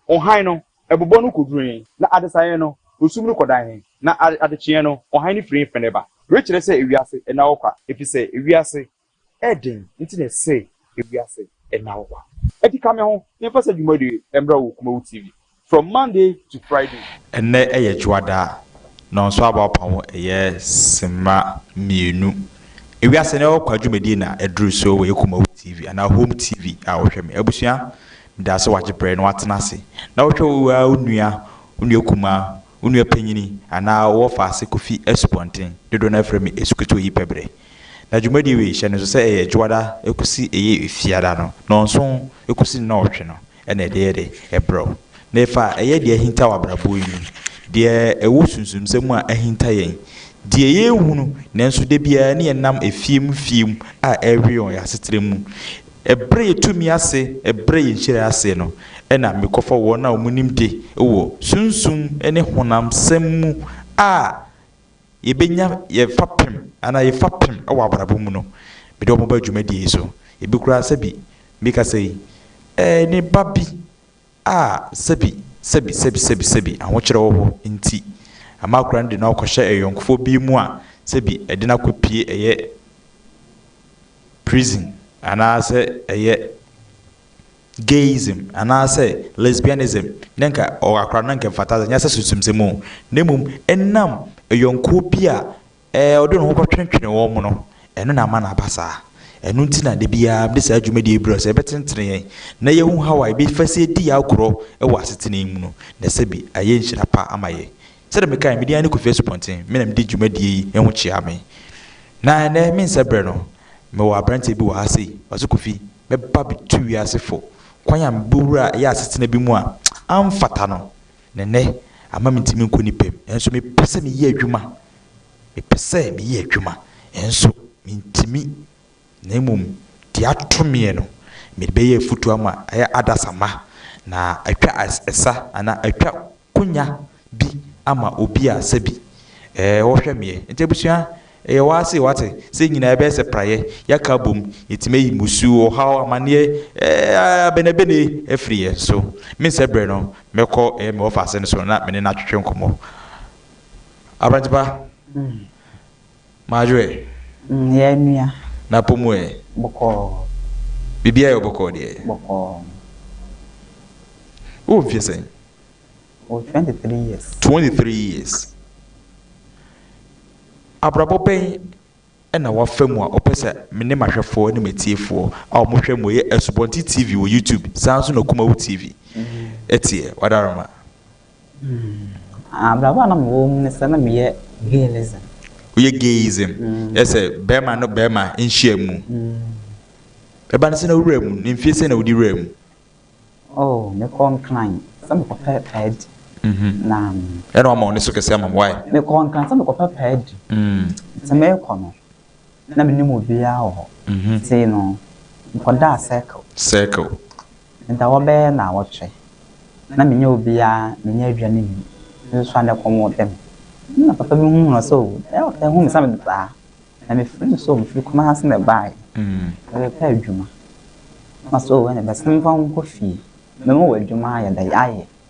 ɔhann no bobɔ no koduree, na adesaeɛ no, osum no kɔdan he, na adekyeɛ no, ɔhann no firi he fene ba. Wei kyerɛ sɛ ewiase nna hɔ kwa, efiri sɛ ewiase yɛ den nti na ɛse ewiase nna hɔ kwa. Enti ka me ho na yɛmfa saa dwumadie yi mmra wɔ Kumawu TV from Monday to Friday. Ɛnnɛ yɛ Dwoada, Nɔnso Abaɔpaho yɛ Simma mmienu. Ewiase nna hɔ kwa dwumadie na aduru so wɔ yɛ Kumawu TV anaa Home TV a wohwɛ me. Abusua, Da so wagye berɛ na watena ase na ɔhwɛ wo ara wo nua, wo nua kumaa, wo nua panyini anaa wo wɔfa ase kɔfi asupɔnten, dodoɔ no ara frɛ me Asukutuo yi pɛbrɛ. Na dwumadie wei hyɛ no nso sɛ ɛyɛ Dwoada kɔsi ɛyɛ Fiada no, nnɔnson kɔsi nnɔɔtwe no na ɛde yɛ de brɛ wo. Na ɛfa ɛyɛ deɛ ahinta wɔ abrabɔ yi mu, deɛ ɛwɔ sunsumsɛm mu a ahinta yɛn, deɛ yɛnhunu nanso da biara ne yɛnam fie mu fie mu a ɛrewe yɛn wɔ yɛn asetra mu, Ɛbrɛ yɛn tumi ase, ɛbrɛ yɛn nhyira ase no, ɛna mekɔfa wɔn a wɔn nimde wɔ sunsum ne honamsɛm mu a yɛbɛnya yɛn fapem anaa yɛn fapem wɔ abrabɔ mu no, mede wɔn ba dwumadie yi so. Ebi koraa sɛbi meka sɛ yi, ɛɛ ne ba bi a sɛbi, sɛbi, sɛbi, sɛbi, sɛbi ahokyerɛ wɔ hɔ nti ama akwadaa no de no akɔhyɛ ayɔnkofoɔ bi mu a sɛbi ɛde no akɔpue ɛyɛ. prison anaasɛ ɛyɛ gayism anaasɛ lesbianism na nka ɔwɔ akora no na nka ɛmfata sɛ nyɛ sɛ sunsumsɛm o na mmom ɛnam yɔnkoɔ bi a ɛɛ ɔde ne ho kɔtwentwene wɔn no ɛno na ama no aba saa ɛno nti na da biara mede saa dwumadie yi brɛ sɛ ɛbɛtenetene yɛn na yɛhu how a yɛbɛfa so adi yɛn agorɔ wɔ asetena yi mu no na sɛbi ayɛ nhyira pa ama yɛn Sɛdeɛ mekae, me din ara ne Kofi Asupɔnten, me na mede dwumadie yi ho kyea me. Na ɛnnɛ, me nsa berɛ no, mewɔ aberanteɛ bi wɔ ha sei, ɔse Kofi, mɛba abɛtu wiase fo kwan a mebɛwura a ɛyɛ asetena bi mu a amfata no, na ɛnnɛ ama mentumi nkɔ ne pɛ mu, nanso mepɛ sɛ meyɛ adwuma, mepɛ sɛ meyɛ adwuma, nanso mentumi Na mmom deɛ ato meɛ no, mede bɛyɛ afutuo ama ɛyɛ adasamma, na atwa ɛsa anaa atwa konya bi ama obi a sɛbi ɛɛ ɔhwɛ meɛ. Nti abusua, ɛyɛ wo ara sei wate, sɛ nyinaa yɛbɛyɛ sɛ praeɛ, yɛaka abom, yɛtumi ayi mmusuo, ɔhaw, amanneɛ, ɛɛ abenebene afiri yɛn so. Me sɛ berɛ no, mɛkɔ ɛyɛ me ɔfase no so na me ne no atwetwe nkɔmmɔ. Aberante pa. M'adwerɛ. Mm, yɛ anua. N'apɔ mu ɛ. Bɔkɔɔ. Biribiara yɛ wo bɔkɔɔ deɛ. Bɔkɔɔ. Wowɔ mfeɛ sɛn? Mewɔ twenty three years. Twenty three years. Abrabɔ bɛn ɛna wafa mu a ɔpɛ sɛ me ne m'ahwɛfoɔ ne m'atiefoɔ a wɔhwɛ mo yɛ Asubɔnten TV wɔ YouTube saa nso na Kumawu TV ɛteɛ? Wadaroma. Abrabɔ a na mewɔ mu ne sɛ na meyɛ gayism. Woyɛ gayism? Mm. Yɛ sɛ bɛrima no bɛrima nhyia mu. Mm. Ɛba no sɛ na wura mu, ne mfie sɛ na wodi wura mu. Oh, mekɔ nkran sɛ mekɔpɛ paadi. Mhm. Na. Ɛna wɔn ma wɔn so kɛse ama wɔn wae. Mekɔ nkran sɛ mekɔpɛ paadi. Mm. Sɛ mekɔ no, Na mennim obiara wɔ hɔ. Afei no, mekɔdaa Circle. Circle. Meda bɛyɛ nnawɔtwe. Na menyɛ obiara, menyɛ aduane nni. Nso anɛ kɔm ɔɔdɛ me? Ɛnna papa bi huu me, ɔse, O, ɛyɛ ɔtaa hu me sɛ mede saa. Na mefrɛɛ no sɛ, O, mefiri Kumasi na ɛbaeɛ. Merepɛ adwuma. Ɔse, O, ɛnna bɛsene me mfa wo nkɔ fie. Mɛma wo adwuma ayɛ dɛ, ayɛ.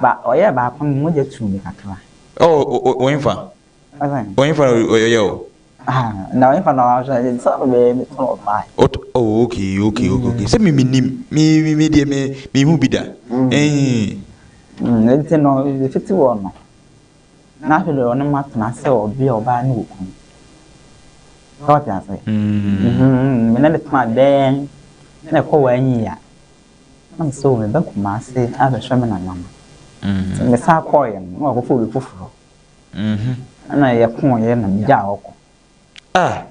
Ba ɔyɛɛ baako no mogya tuu me kakra. Oh oh ɔhefa? Ɔhefa na ɔyɛ o? Ah na ɔhefa na ɔyɛ o? Sɛ ɔno bɛyɛ me tɔn ɔbaa yi. Ɔt oh okay okay okay sɛ me menim me me me deɛ me me hu bi da eii. Mm nti no me fiti hɔ no na afei deɛ ɔne ma tena sɛ ɔbea ɔbaa ne okunu. Sɛ ɔte ase? Mm me ne no tena bɛɛ na ɛkɔ wɔ anyi a. Mekae sɛ, 'O, meba Kumasi abɛhwɛ me nana no. Nti mesan kɔeɛ no, na wakɔfa obi foforɔ. Ɛnna yɛkoeɛ na megyaa hɔ kɔ. Ah!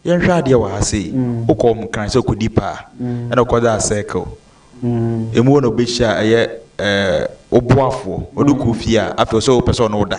Yɛnhwɛ adeɛ wɔ ha sei. Wokɔɔ wɔn kran sɛ wokɔdi paa, ɛnna wokɔdaa circle. Emu hɔ na wobɛhyia ɛyɛ ɛɛ wo boafoɔ, ɔde wo kɔɔ fie a, afei ɔsɛ wopɛ sɛ ɔne wo da.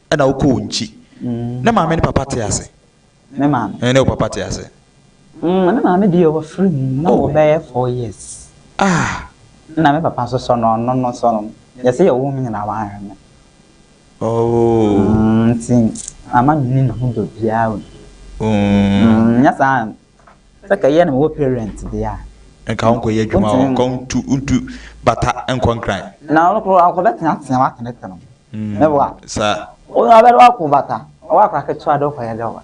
Ɛna wo kɔ wo nkyi. Ne maame ne papa te ase. Me maame. Ɛne wo papa te ase. Mm me maame deɛ wɔ firi mu na wɔ bɛyɛ four years. Ah. Ɛna me papa nso sɔnɔ ɔno no sɔnɔ mu yɛse yɛ wo me nyinaa wa hwɛ me. Oh. Mm nti mama me ni ne ho dɔ biara o. Mm. Mm nyɛ saa Sɛ kɛyɛ no mowɔ parent deɛ a. Nka ɔnkɔ yɛ adwuma hɔ nka ɔntu ntu bata nkɔ nkran. Na ɔno koro akɔ bɛ tea tea wa tene tene ne wa. Sa. Ɔno abɛ de wakɔ bata ɔwɔ akora ketewa de ɔkɔ yɛ dɛ wa.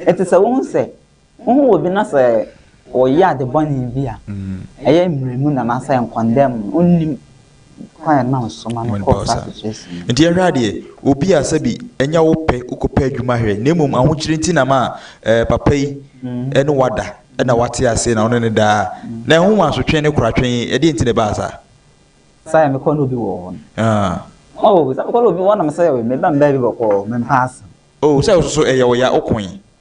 Ɛti sɛ wohu sɛ wohu wɔ bi na sɛ ɔyɛ ade bɔne bi a ɛyɛ mmerɛ mu na na sɛ nkɔndɛm no ɔnnim. kwan a ɛma nsomma no kɔ ɔsoro akyekye asi no. Nti yɛhwɛ adeɛ, obi a sɛbi ɛnyɛ wo pɛ wokɔ pɛ adwuma hwɛ, na mmom ahokyere nti na ma eh, papa yi ɛne wada ɛna wate ase na wo ne no daa, na ɛho wɔ asotwe ne koratwe, ɛdeɛ nti na ɛbaa saa? Saa yɛ mekɔ ne obi wɔ hɔ no. Ah. Oh, sɛ mekɔ ne obi wɔ hɔ na mesɛ meba mbaa bi bɔkɔɔ, mempɛ asɛm. Oh, sɛ wo soso ɛyɛ wo ya, wo koe.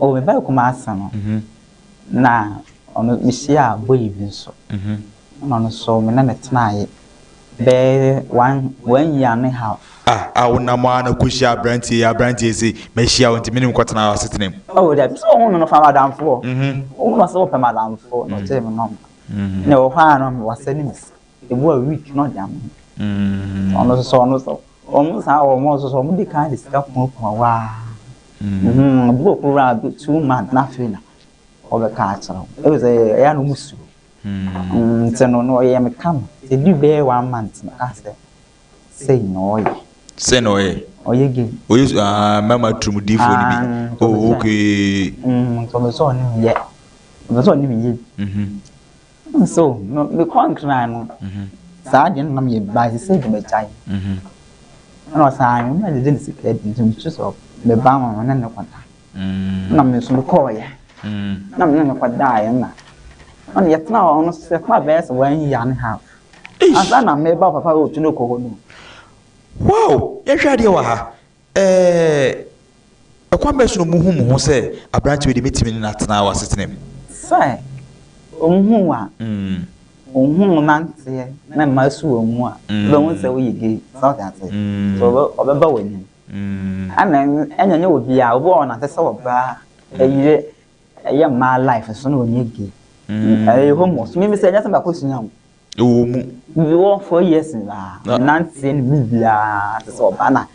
Oh, mebaa Kumasi no, na ɔno, mehyiaa boy bi nso. Ɛna ɔno nso, me ne no tenaeɛ bɛyɛ one, one year and a half. Ah, ah, wonam ara na kɔhyiaa aberanteɛ yi, aberanteɛ sei, mahyia wo nti me ne wo kɔtenaa asetena mu. Oh, dabi, sɛ wohu me no, fa me adamfoɔ. Wohu me sɛ wopɛ m'adamfoɔ, na ɔgyee me number. Na ɛwɔ hɔ ara no, wasɛne me sika. Ebu a week na ɔde ama no. Mm. Ɔno nso ɔno nso wɔn saa wɔn nso so wɔn de kan de sika kumakuma waa. Mm. Ebu wɔ koro a two months na afei na ɔbɛka akyerɛ wɔn. Ebi sɛ ɛyɛ no mu su. Mm. Nti no na ɔyɛ me kama. Edu bɛyɛ one month na ɔka sɛ sɛyi na ɔyɛ. Sɛ na ɔyɛ. Ɔyɛ gay. Ɔyɛ su aa mɛma turum di fo ni bi. Oh okay. Mm. Nti ɔbɛ sɛ ɔne mi yɛ. Ɔbɛ sɛ ɔne mi yɛ. Mhm. Nso no, me kɔn kra no, saa adeɛ no nam yɛ ba sɛ sɛ de magyae. Ɛna ɔsaa no, na gyegye ne sika adi nso mesu sɛ me ba ma ne ne kɔda. Na me nso mekɔɔyɛ. Na me ne ne kɔdaeɛ na na ne yɛtena hɔ no sɛ yɛtena bɛyɛ sɛ one year and a half. Ansa na meba papa ɔtu no kɔ hɔ no. Wow! Yɛnhwɛ adeɛ wɔ ha. Ɛɛ, kwan bɛn so na wɔhuu mo ho sɛ aberante wei de, mɛtumi ne no atena wɔ asetena mu? Sɛ wɔhu wo a, wɔhu wo nanteɛ ne mmaa su wɔn mu a, wobɛhu sɛ woyɛ gay. So ate aseɛ? So wɔbɛba w'anim. Ɛna ɛnyɛ ɛnyɛ obiara, obi wɔ hɔ nante sɛ ɔbaa, ɛyere, ɛyɛ mmaa life so na ɔnyɛ gay. Ɛyɛ homo. So mimi sɛ ɛnyɛ sɛ makɔsua wo. Ɛwɔ mu. Mewɔ four years nyinaa, me nanteɛ no mu biara te sɛ ɔba na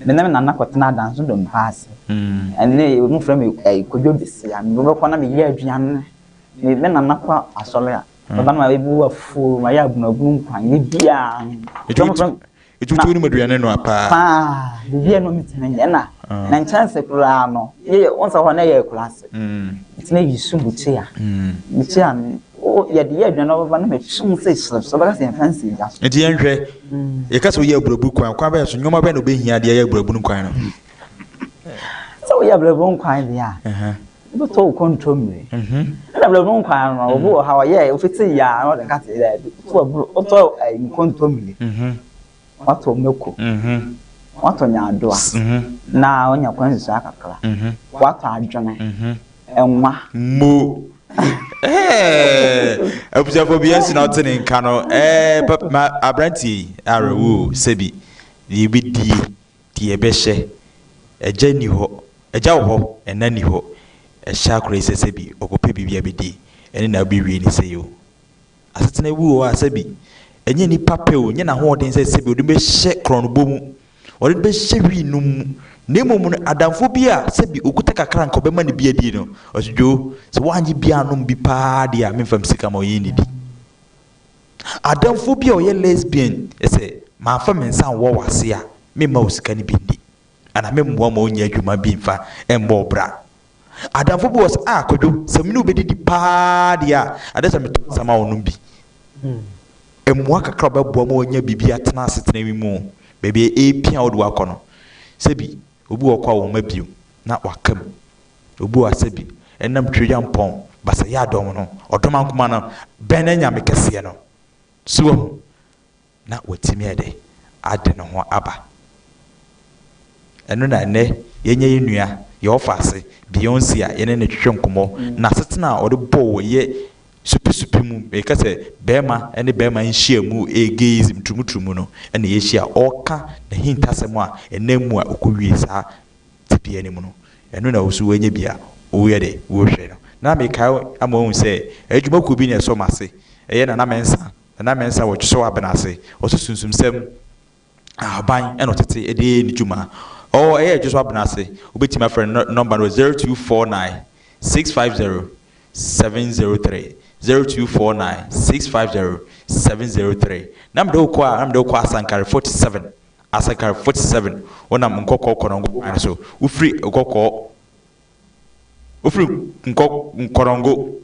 me ne me nana kɔtena Adanso Dompa ase. Ɛnne wɔfrɛ me ɛyi Kodwo Besia, mebɛkɔ na meyɛ aduane. Me me nana kɔ asɔre a, ɔba na mabu afuo, mayɛ abunabunu nkwan, biribiara. Ɛti Etutu wo nom aduane no a paa. Paa, biribi a na ɔntumi nyɛ na na nkyɛnse koraa no yɛ wɔn sɛ hɔ na yɛ akuraase. Nti na yɛ sum bukyia. Bukyia no o yɛ de yɛ aduane na ɔbɛba na mɛ sum sɛ hyerɛ so bɛka sɛ yɛn fɛn si gya so. Nti yɛn hwɛ yɛ ka sɛ ɔyɛ aburaburu kwan kwan bɛyɛ so nneɛma bɛyɛ na ɔbɛhia deɛ yɛ aburaburu kwan no. sɛ woyɛ abrabɔ nkwan deɛ a wobɛtɔ wo kɔntɔmmire ɛna abrabɔ nkwan no obi wɔ ha ɔyɛ ofiti yɛ a na ɔde ka te daabi wotɔ nkɔntɔmmire watɔ mako watɔ nyaadoa na wonya kwan susua kakra watɔ adwene ɛnwa mo abusuafo bi asi na ɔte ne nka no aberanteɛ yi awerɛwo sɛbi deɛ ɛbɛdie Deɛ bɛhyɛ, Agya nni hɔ, Agya wɔ hɔ, Ɛna nni hɔ, Ɛhyɛ akora yi sɛ sɛbi ɔkɔpɛ biribi a bɛdi, ɛne na wobɛwie ne sei o. Asetena bi wɔ hɔ a sɛbi ɛnyɛ nipa pɛ o, ɛnyɛ n'ahoɔden sɛ sɛbi ɔde no bɛhyɛ korɔnobɔ mu, ɔde no bɛhyɛ wii nom mu, na mmom no adamfoɔ bi a sɛbi ɔkuta kakra a nka ɔbɛma no bi adi no, ɔse Dwoo, sɛ woannye bi annom bi paa deɛ a, memfa me sika mma wo, yɛnnidi. Adamfo bi a ɔyɛ lesbian se, Mamfa me nsa anwɔ w'ase a, meremma wo sika no bi nni, anaa meremmoa wo ma wonyɛ adwuma bi mfa mmɔ wo bra. Adamfo bi wɔ hɔ se, Ah, Kwadwo, sɛ me ne wo bɛdidi pa ara deɛ a, ɛsɛ sɛ metɔ nsa ma wo nom bi. Mmoa kakra a wɔbɛboa ma wanya biribi atena asetena yi mu, baabi a ɛrepia a wode wo akɔ no, sɛ bi, obi wɔ hɔ koraa a ɔmma bio, na waka mu. Obu Asebi nam Tweampɔn Basayaadɔm no Ɔdomankoma no bɛn ne nyame kɛseɛ no? So wahu na watumi ayɛ dɛ ade ne ho aba? Ɛno na ɛnnɛ yɛanya yɛn nua, yɛn ɔfaase, Beyonce a yɛne no twetwe nkɔmmɔ. N'asetena a ɔde bɔ wɔ yɛ supesupe mu, meka sɛ bɛɛma ne bɛɛma nhyiamu, ɛyɛ gayism turumuturumu no na yɛahyia. Ɔreka n'ahintasɛm a ɛnam mu a ɔkɔwie saa tebea no mu no, ɛno na ɔwɔ sɛ ɔnya bi a ɔyɛ de hwɛ no. Na mekae ama wɔahu sɛ adwuma kuo bi na ɛsɔ m'ase, ɛyɛ Nana Mensah, Nana Mensah wɔ Twosɔw Abena ase, ɔso sunsumsɛm, ahaban na ɔtete de yɛ ne dwuma. Ɔwɔ, ɛyɛ Twosɔw Abena ase, wobɛtumi afrɛ no, ne nɔmba no wɔ 0249 650 703, 0249 650 703. Na mede wo kɔ a, na mede wo kɔ Asankare 47, Asakar, 47, Wonam nkɔkɔɔ kɔnɔngo kwan so, wofiri nkɔkɔɔ, wofiri nkɔ, nkɔnɔngo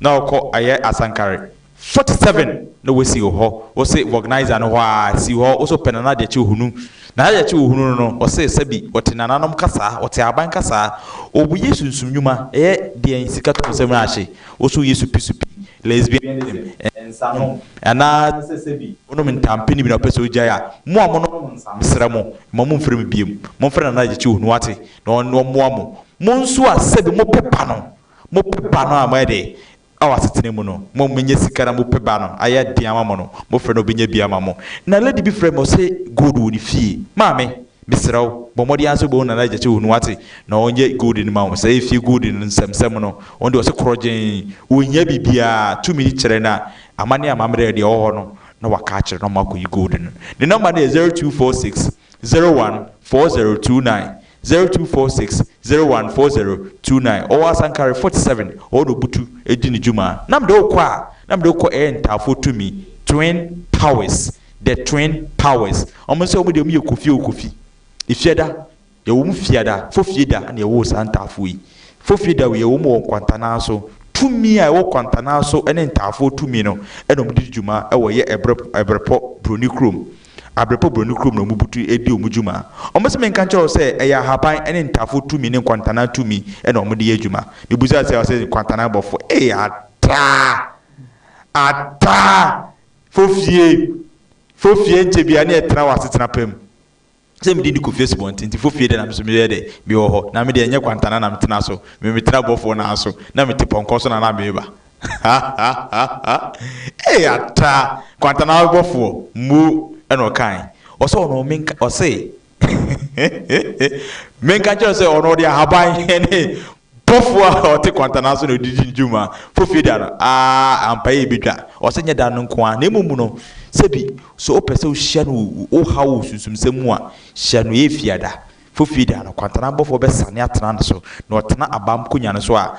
na ɔkɔ ayɛ asankare, 47, na wasi wo hɔ, wose Vɔgnizer no hɔ aa, si hɔ, wose wopɛ Nana Gyakye Ohunu, Nana Gyakye Ohunu no no, ɔse sɛbi, ɔte nananom kasaa, ɔte aban kasaa, ɔbɔ Yesu nsumnwuma, ɛyɛ deɛn sika tɔn sɛm aa hye, wose woyɛ supi supi, lesbianism, nsanom, anaa sɛ sɛ bi wonom ntampini bi na ɔpɛ sɛ ogyae a, mo a monom nsa, mesrɛ mo, mma momfrɛ me biom. Momfrɛ Nana Agyekyi Onu, wate, na ɔmmoa mo. Mo nso a sɛ bi mopɛ ba no, mopɛ ba no a moayɛ dɛ wɔ asetena mu no, mo a moanya sika na mopɛ ba no, ayɛ den ama mo no, mofrɛ no a ɔbɛnya bi ama mo. Na lady bi frɛɛ me, ɔse gold wɔ ne fie. Maame! Mesrɛ wo, bɔ mmɔden ara sɛ wobɛhu Nana Agyakye hunu, woate, na ɔnyɛ gold no mma wo. Saa efie gold no nsɛmnsɛm no, ɔno deɛ ɔse korɔgyenn, ɔnhia biribiara, tumi kyerɛ na amanneɛ amammerɛ deɛ ɛwɔ hɔ no, na waka akyerɛ na wɔakɔyi gold no. Ne nɔmba no yɛ zero two four six zero one four zero two nine, zero two four six zero one four zero two nine. Ɔwɔ Asankare forty seven, ɛhɔ na ɔbutu di ne dwuma. Na mede wo kɔ a, na mede wo kɔ ɛyɛ Ntaafoɔ Tumi, Twin Powers, The Twin Towers. Wɔn nso wɔn deɛ wɔn yɛ kofie o kofie. Efiada yɛwɔ mu fiada, fofie da na yɛwɔ saa ntaafoɔ yi. Fofie da yɛwɔ mu wɔ nkwantanaa so. Tumi a ɛwɔ kwantanaa so ne ntaafoɔ tumi no na wɔn de di dwuma wɔ yɛ ɛbrɛ ɛbrɛpɔ broni kurom. Abrɛpɔ broni kurom na wɔn butu di wɔn dwuma. Wɔn sɛ menka nkyerɛ wo sɛ ɛyɛ ahaban ne ntaafoɔ tumi ne nkwantanaa tumi na wɔn de yɛ adwuma. Mebusa sɛ ɔsɛ nkwantanaa bɔfo ee ataa ataa Fo fie, fo fie nkyɛ biara ne ɛtra wɔ asetena pa mu. Sɛ mede di kofie subɔnten nti, fo fie deɛ na me nso meyɛ dɛ mewɔ hɔ. Na me deɛ ɛnyɛ kwantana na metena so, me metena bɔfoɔ no ara so, na mete pɔnkɔ so na na meba. Ha ha ha ha! Ee Atra, kwantana ara bɔfoɔ, mmo, ɛna ɔkae. Ɔse ɔno menka, ɔse menka nkyerɛ no sɛ ɔno ɔde ahaban ne Bɔfo a ɔte kwantanan so na ɔde di ne dwuma. Fofie da no, aa, ampa yɛ ebedwa. Ɔsɛ nyɛ da no nko ara, na mmom no, sɛ bi, so wopɛ sɛ wohyia no wɔ wo haw wɔ sunsumsɛm mu a, hyia no Efia da. Fofie da no, kwantanan bɔfo bɛsane atena ne so, na ɔtena abam konya no so a,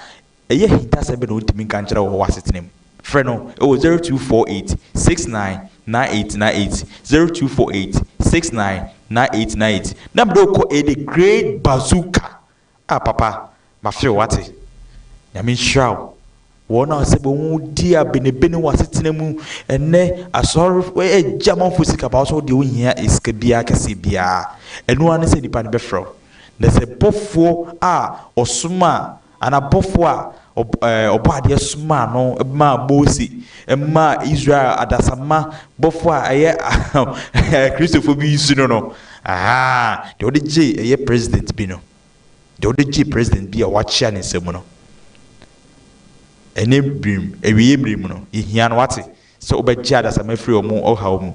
ɛyɛ ahintasɛm bɛn na ontumi nka nkyerɛ wo wɔ w'asetena mu? Frɛ no wɔ 0248 699898, 0248 699898, na mede wo kɔ ɛyɛ The Great Bazooka Ah papa mafe wo wate. Nyame nhyira wo. Wɔn a sɛ bɛ wɔn di abenebene wɔ asetena mu ɛnɛ asɔre ɛgye amanfoɔ sika ba wo sɛ wo deɛ wo nhia sika biara kɛseɛ biara ɛno ara ne sɛ nipa no bɛfrɛ wo na sɛ bɔfoɔ a ɔsoma anaa bɔfoɔ a Ɔb ɛɛ Ɔbɔadeɛ somaa no maa Mose maa Israel adasamma bɔfo a ɛyɛ ɛɛ Kristofo bi su no no. Ahaa, deɛ ɔde gyee ɛyɛ president bi no. Deɛ ɔde gyee president bi a wɔakyea ne nsam no. Ɛnnɛ bere mu, awieeɛ bere mu no, yɛhia no, woate? Sɛ wobɛgye adasamma afiri wɔn ɔhaw mu.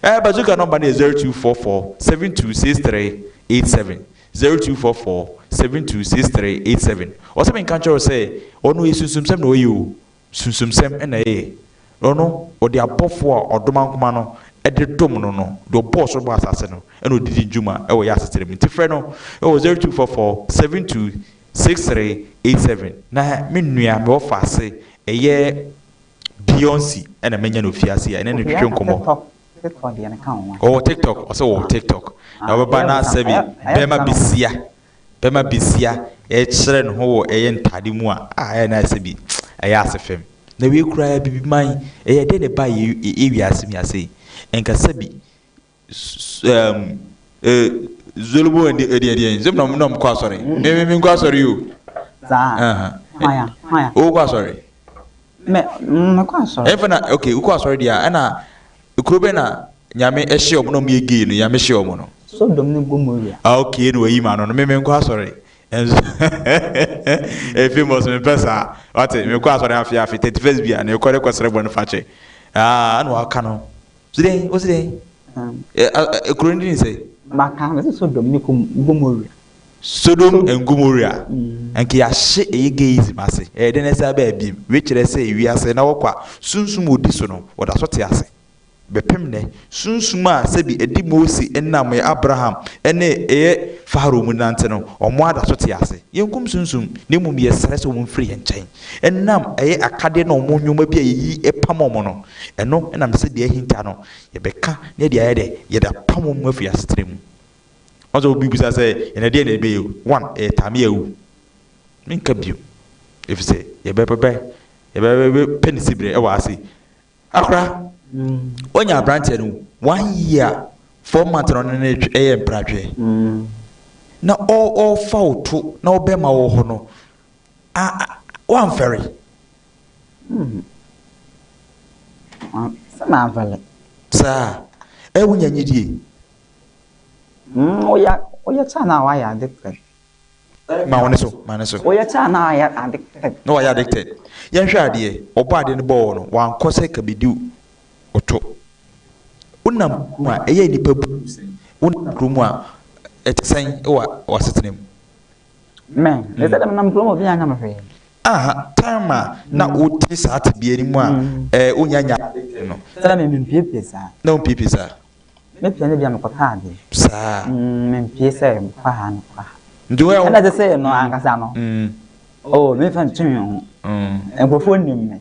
Eh, Bazooka nɔmba no yɛ zero two four four seven two six three eight seven, zero two four four seven two six three eight seven. Ɔsɛ menka nkyerɛ wo sɛ, ɔno ɔyɛ sunsumsɛm na ɔyɛ o, sunsumsɛm na ɛyɛ. Ɔno, ɔde abɔfoɔ a ɔdoma nkoma no de dom no no, deɛ ɔbɔɔ soro bɔɔ asaase no, ɛna ɔde di dwuma wɔ yɛn asetena mu. Nti frɛ no wɔ zero two four four seven two six three eight seven. Na me nua, mewɔ faase, ɛyɛ Beyonce na manya no fiase a yɛne no twetwe nkɔmmɔ. Ɔwɔ TikTok, ɔsɛ ɔwɔ TikTok. Na ɔbɛba na sɛbi bɛma besia, bɛma besia ɛrekyerɛ ne ho wɔ ɛyɛ ntade mu a, ah ɛyɛ na ayɛ sɛbi ɛyɛ ase fam. Na wei koraa bibi man, ɛyɛ dɛn na ɛbaa yɛn wiase mu ha sei? Nka sɛbi ɛɛm ee zolobo ɛdi ɛdi ɛdi ɛdi sɛm na ɔmo na ɔmo kɔ asɔre mi mi mi nkɔ asɔre yi o saa ɛhɛn hwan ya hwan ya o kɔ asɔre mɛ mɛ kɔ asɔre ɛfɛ na ok o kɔ asɔre deɛ ɛna kuro bɛ na nyame ɛhyɛ ɔmo na ɔmo yɛ gay no nyame hyɛ ɔmo no sodom ne gomoria ah ok ɛna wayi ma no no mi mi nkɔ asɔre ɛnso ɛhɛhɛhɛ efi mɔs mi pɛ saa wate mi kɔ asɔre afi afi thirty first bia na ekɔ de kɔ srɛ bɔ ne fa kyɛ ah ɛna waka no. Ose dɛn? Ose dɛn? Ɛ kuro no din sɛ? Maka no sɛ Sodom ne Gomorrah. Sodom and Gomorrah. Anka yɛahye ɛyɛ gayism ase. Ɛyɛ dɛn na ɛsan aba abiem? Wei kyerɛ sɛ wiase na wɔkɔ a sunsum a odi so no, wɔda so te ase bɛpem nnɛ. Sunsum a sɛbi ɛde Mose nam ɛyɛ Abraham ne ɛyɛ Farao mu nante no, wɔn ara da so te ase. Yɛnkum sunsum, na mmom yɛsrɛ sɛ wɔmfiri yɛn nkyɛn. ɛnam ɛyɛ akadeɛ no wɔn nnoɔma bi a yɛyi pam wɔn no, ɛno na mesɛ deɛ ahinta no yɛbɛka na yɛde ayɛ dɛ, yɛde apam wɔn afiri asetena mu. Wɔn sɛ obi bisa sɛ ɛnɛ deɛ na ɛbɛyɛ o, one ɛyɛ time yɛ o, menka bio, ɛfiri sɛ yɛbɛbɛbɛ yɛbɛpɛ ne siberɛ wɔ ase. Akora, ɔnya abranteɛ no one year four months na ɔne no ɛyɛ mpratweɛ, na ɔɔfa wo to na ɔbɛma wɔ hɔ no, A a woamfɛre? Hmm. Ma, sɛ mamfɛre. Saa. Ɛ, wonya gyidie? Hmm, woyɛ, woyɛ kyɛ anaa woayɛ addicted? Ma wo ne so, ma ne so. Woyɛ kyɛ anaa woayɛ addicted? Na woayɛ addicted. Yɛnhwɛ adeɛ, wɔbɔ adeɛ no bɔɔ no, wankɔ sɛ ka bɛdi ɔtɔ. Wonam mu a, ɛyɛ nnipa bu wo sɛn? Wonam kuro mu a, ɛte sɛn wɔ w'asetena mu? Amen. Mm. Ɛsɛ dɛm nam kurom obi anya me hwee. Aha, time a na mm. wote saa tebea no mu a mm. ɛɛ eh, onya nya no. Sɛ na me mpiepie saa. Na wo mpiepie saa. Me pia ne bia me kɔtɔ ade. Saa. Mm, me mpie sɛ fa ha no fa ha. Nti wo yɛ wo. Ɛna sɛ sɛ no ankasa no. Mm. Oh, me fa ntumi ho. Mm. Nkurɔfoɔ nim me.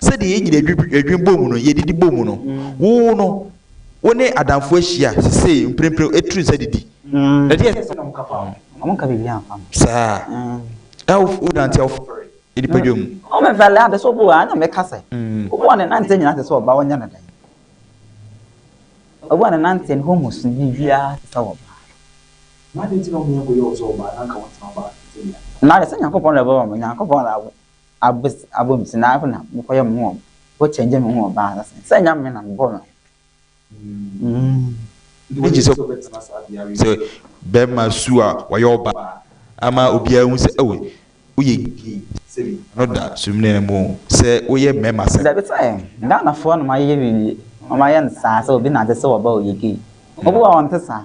Sɛdeɛ yɛn nyina adwene bɔ mu no, yɛdidi bɔ mu no, wo no, wo ne adamfo ahyia sesei mprempren ɛturu nsa didi. Na deɛ ɛsɛ sɛ na moka fa ho. Saa na wonante awofoforɔ nipadua mu. abes abɔ mu se na afei na mokɔyɛ mo ho mokɔ kyɛngye mo ho wɔ baa ase sɛ ɛnyɛ me na mebɔɔ no Nti wogye sɛ wobɛtena saa beaeɛ yi sɛ bɛrima su a wayɛ ɔbaa ama obiara ahu sɛ oh woyɛ gay sɛbi ano da Sumina no mu sɛ woyɛ mmarima asɛm. Dabi sɛ Ghanafoɔ na wɔayɛ biribi wɔayɛ no saa sɛ obi nante sɛ ɔbaa ɔyɛ gay. Obi wɔ hɔ a ɔnte saa.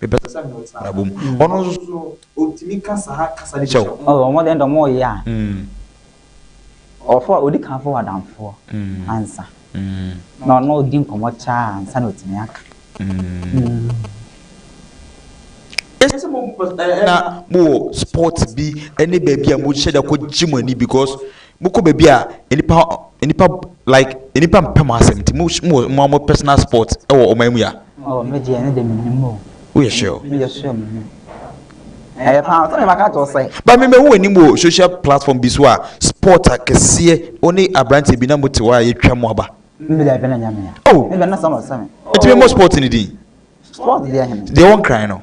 Mepɛ sɛ me ne wo tena aba mu. Ɔno nso so ɔtumi ka saa kasa no bi kyerɛ wo. Ɔyɛ ɔmɔden dɛ ɔmɔ ɔyɛ a ɔfo a ɔdi kan fo wadanfoɔ ansa na ɔno ɔdi nkɔmɔ kyɛ a ansa na ɔtumi aka. Ɛsɛ sɛ mo na mo wɔ sport bi ɛne baabi a mo hyɛ da kɔ gye mo ani because Mokɔ baabi a nnipa nnipa like nnipa mpɛ mo asɛm nti mo mo wɔ mo mo personal spot wɔ ɔman mu ya. Oh me deɛ ne deɛ me nim o. Woyɛ sure o. Meyɛ sure me nim. Ɛyɛ paa sɛ maka kyerɛ sɛ. Ba me mahu w'anim wɔ social platform bi so a spot akɛseɛ wo ne abranteɛ bi na mo te hɔ a yɛtwa mo aba. Me deɛ bɛ na nya me a. Oh. Me bɛ na sɛ na ɔsɛ me. Nti me mmɔ spot no din. Spot deɛ hene. Deɛ wɔ nkran no.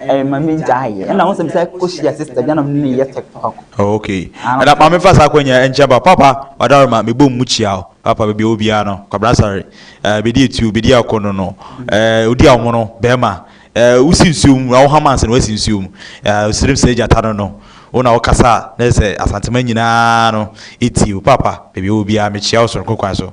ɛyɛ ma mi gya ayɛ ɛna wɔn sɛ mi sɛ kɔ hyia sista gya na mi ne yɛ tiktok. Oh, ok ɛna maame fa saa akɔnya ɛnkyɛn ba papa ɔdaroma mi bɔ mu kyia o papa baabi ɛwɔ biara no kwabena sare ɛɛ bedi etuo bedi akɔ no no ɛɛ odi ahono bɛrima ɛɛ wosi nsuo mu na wohama ansa na wasi nsuo mu ɛɛ osirim sɛ gyata no no wo na wokasa a na yɛ sɛ asantema nyinaa no eti o papa baabi ɛwɔ biara mi kyia o soronko kwan so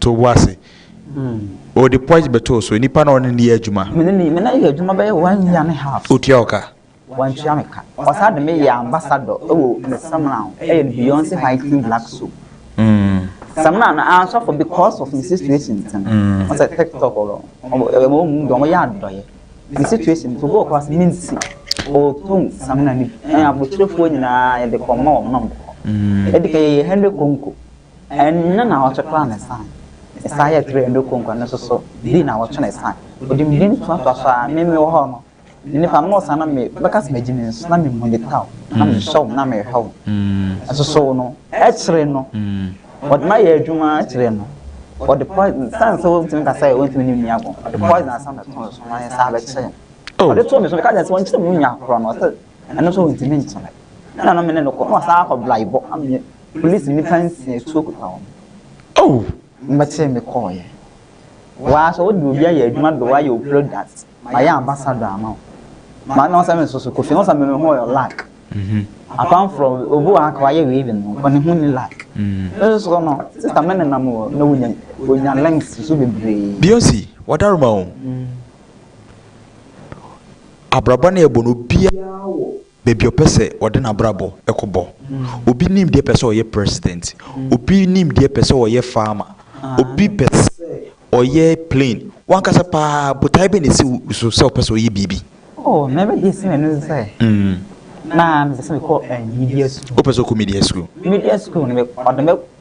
too bo ase. Ɔde poison bɛtoo so. Nipa na ɔne no yɛ adwuma. Me ne ne me ne yɛ adwuma bɛyɛ one year ne half. Otua wo ka? Wantua me ka. Ɔsan de me yɛɛ ambassador wɔ ne samina ho. Ɛyɛ no Beyonce High Cream Black Soap. Samina no an sɔfo because of me situation nti no. Ɔsɛ TikTok no. Ɛma wɔn mu deɛ wɔyɛ adɔeɛ. Me situation nti obi wɔ class me nti ɔtɔn samina no bi. Ɛna abotire foɔ nyinaa yɛde kɔma wɔn na wɔn kɔ. Ɛdi kan yɛyɛ hundred konko. Ɛno na ɔkye kora ne san. Ne san yɛ twerɛ ɛno konko ɛno nso so bi na ɔkye ne san. Ɔde mmienu toa toa so ara me me wɔ hɔ no me nifa no saa na me bɛka sɛ magye me nso na me mmu ne ta o na me hwɛ o na me hwɛ o. Nso so no ɛkyere no ɔde ma yɛ adwuma ɛkyere no ɔde poison san sɛ ɔntumi ka sɛ ɔntumi ne nua go ɔde poison asan bɛto ne so na ne san bɛkyere no. Ɔde to me so me ka kyerɛ sɛ ɔnkyere me nua korɔ no ɔsɛ. Ɛno nso wɔntumi nkyerɛ. Ɛna no me ne no kɔ na wasan akɔ blaebɔ ama me polisi nifa nsia atuo kuta wɔn. Oh! Mbɛkyee me kɔɔeɛ. Waa sɛ wode obi ayɛ adwuma de wayɛ wo product mayɛ ambassador ama wo. Ma na ɔsɛ me nso so Kofi ho sɛ me me ho yɛ lack. Mhm. Apart from obi wɔ ha ka wayɛ wei de no nko ne ho ni lack. Mm. Me nso so no sista me nenam wɔ na wonya wonya links so bebree. Beyonce, wadaroma o. Mm. Abrabɔ no yɛ bɔ na obiara wɔ baabi a ɔpɛ sɛ ɔde n'abrabɔ kɔ bɔ. Obi nim deɛ pɛ sɛ ɔyɛ president. Obi nim deɛ pɛ sɛ ɔyɛ farmer. Obi pɛ sɛ ɔyɛ plane. W'ankasa paa botae bɛn na ɛsi wo so sɛ wopɛ sɛ ɔyɛ biribi? Oh, na me deɛ si m'ani so sɛ, na mepɛ sɛ mekɔ eh, media school. Wopɛ sɛ wokɔ media school? Media school no, me, ɔde me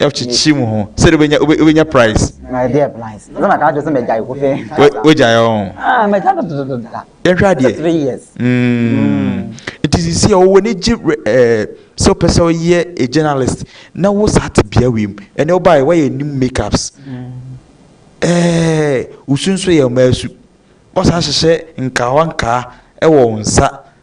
ɔkyekye mu ho sɛ wobɛnya wobɛnya price. na ɛdeɛ price sɛ na kaa kyerɛ sɛ mɛgyae ko fɛ wogyae ɔ ah mɛgya no dodododada yɛnhwɛ adeɛ three years nti sisi a wɔwɔ ne gye sɛ wopɛ sɛ woyɛ a journalist na wo saa te bea wei mu ɛnɛ wobaeɛ woayɛ anim makeups ɛɛ wosu nso yɛ ɔmaa su wosan hyehyɛ nkawa nkaa ɛwɔ wo nsa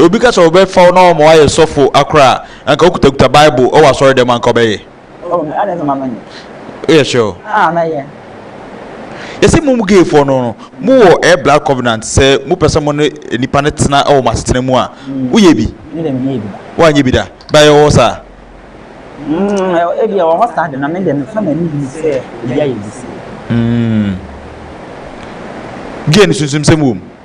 Obi ka sɛ ɔbɛfa wo na ɔma woayɛ sɔfo akora a, anka wokutakuta Bible wɔ asɔre dɛm a, anka ɔbɛyɛ? Oh me adɛn sɛ ma menyɛ. Woyɛ sure o? Ah mɛyɛ. Yɛsɛ mo mu gay foɔ no no mo wɔ ɛyɛ blood covenant sɛ mo pɛ sɛ mo ne nipa no tena ɛwɔ mo asetena mu a wo yɛ bi? Me deɛ menyɛ bi da. Wo anyɛ bi da? But ɛwɔ hɔ saa? Mm ebi ɛwɔ hɔ saa de na me deɛ mefa m'ani bi sɛ ebi ayɛ bi sɛ. Mm. Gay no sunsum sɛm wɔ mu?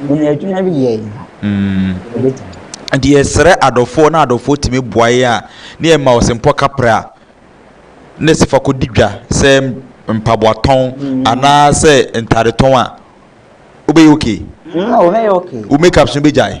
Mene adwuma bi yɛ yi ha. Ɛbɛtumi. Mm. Nti yɛsrɛ adɔfoɔ na adɔfoɔ tumi boa yɛn a ne yɛ ma ɔsempɔ kaprɛ a ne sɛ fa kɔdi dwa sɛ mpaboatɔn mm. anaasɛ ntadetɔn a wobɛyɛ okay. Mm, wobɛyɛ okay. Wo makeups no bɛgyae.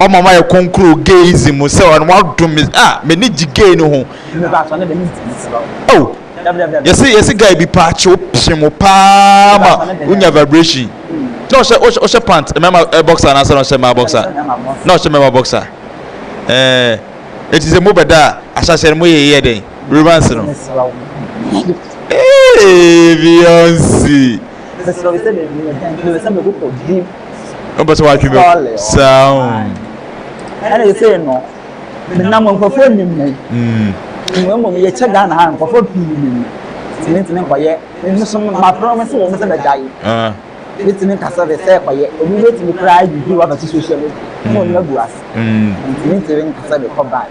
ɔma ma yɛ kɔnkuru gayism mu sɛ ɔno wadom me a m'ani gye gay no ho oh yɛsi yɛsi guy bi paa kyew pye mo paa ma wonya vibration na ɔhyɛ ɔhyɛ ɔhyɛ pant mmarima ɛ boxer anaasɛ na ɔhyɛ mmaa boxer na ɔhyɛ mmarima boxer ɛɛ eti sɛ mo bɛ da a ahyɛhyɛ no mo yɛ yɛ dɛn romance no ee beyonce. Wopɛ sɛ watwe bɛ saa o. Ɛna ɛsɛ no menam nkurɔfoɔ nim mu. Mmom mmom yɛkyɛ Ghana ha nkurɔfoɔ pii nim mu. Tìmí ntìmí nkɔyɛ nso ma promise sɛ wɔn sɛ bɛgya yi. Bɛtìmí nkasa bɛ sɛ kɔyɛ obi bɛtìmí koraa yi bi wa bɛsi social media. Ɛna wɔn agu ase. Tìmí ntìmí nkasa bɛ kɔ ban.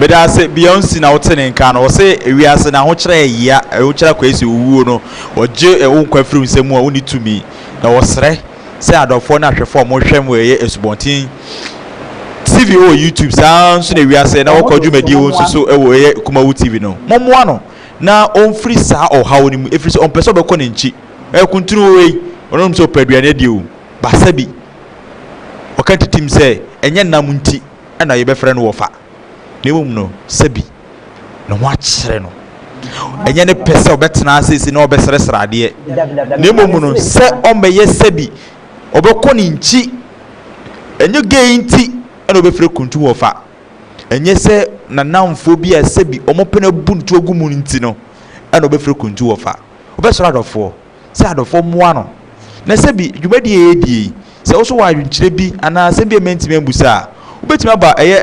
Medase Beyonce na wote ne nka no ɔse ewiase no ahokyerɛ yɛ yea ahokyerɛ Kwesi owuo no ɔgye wo nkwa firi wo nsam a wonni tumi na ɔsrɛ sɛ adɔfoɔ ne ahwɛfoɔ a wɔhwɛ mu ɛyɛ asubɔnten tv wɔ youtube saa nso na ewiase na wɔkɔ dwumadie wɔ nso so wɔ ɛyɛ kumawu tv no mɔmmoa no na ɔmfiri saa ɔhaw no mu ɛfiri sɛ ɔmpɛ sɛ ɔbɛkɔ ne nkyi ɛkuntunu wei ɔnom sɛ ɔpɛ aduane adie o basa bi ɔka titim sɛ ɛnyɛ nam nti ɛna yɛbɛfrɛ no wɔfa na mmom no sɛbi ne ho akyere no ɛnyɛ ne pɛ sɛ ɔbɛtena asese na ɔbɛsrɛsrɛ adeɛ na mmom no sɛ ɔmmɛyɛ sɛbi ɔbɛkɔ ne nkyi ɛnyɛ gay nti ɛna ɔbɛfiri kuntu wɔ fa ɛnyɛ sɛ nanamfoɔ bi a sɛbi ɔmopɛ no abu ne to agu mu nti no ɛna ɔbɛfiri kuntu wɔ fa ɔbɛsrɛ adɔfoɔ sɛ adɔfoɔ mmoa no na sɛbi dwumadie ɛyɛ die sɛ wo so wɔ adwenkyerɛ bi anaa asɛm bi a mantumi ambusa a wobɛtumi aba ɛyɛ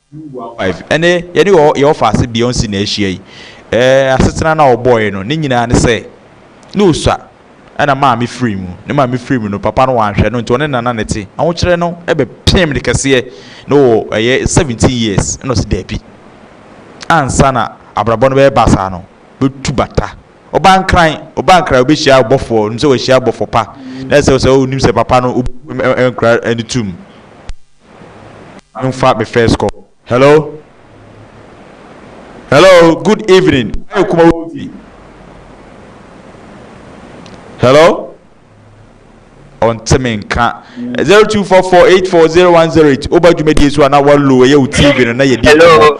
Ɛnnɛ, yɛne yɛn ɔfaase Beyoncé na ahyia yi. Ɛɛ, asetena no a ɔbɔe no, ne nyinaa ne sɛ, na osua, ɛnna maame firii mu. Ne maame firii mu no, papa no wanhwɛ no, nti ɔne nana na ɛte. Ahokyerɛ no bɛpeem no kɛseɛ, na ɔwɔ ɛyɛ seventeen years, ɛnna ɔse daabi, ansa na abrabɔ no bɛyɛ basaa no, mɛtu bata. Ɔbaa Nkran, ɔbaa Nkran, ɔbɛhyia abɔfoɔ, ɔnim sɛ wahyia abɔfo pa, na ɛsɛ sɛ ɔnim sɛ papa no, ɔbɛbu nkra no tom. Momfa me first call. Hello? Hello, good evening. Ayɛ kuma wo TV. Hello? Ɔnte me nka. 0244840108. Woba dwumadie so a na walo ɛyɛ wo TV no na yɛdi nkɔmmɔ.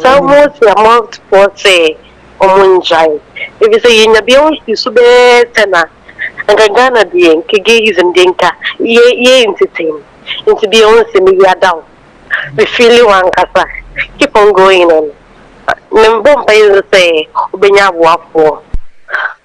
Sɛ Mose a Mountfoɔ se ɔmo ngyae. Efisɛ yenya bia wo nsusu bɛyɛ sɛ na anka Ghana deɛ nka gayism deɛ nka yɛ yɛ ntetem nti bia wo nse me yia da wo me feeli wankasa keep on going and me bɔ mpaeɛ nso sɛ wobɛnya aboafoɔ.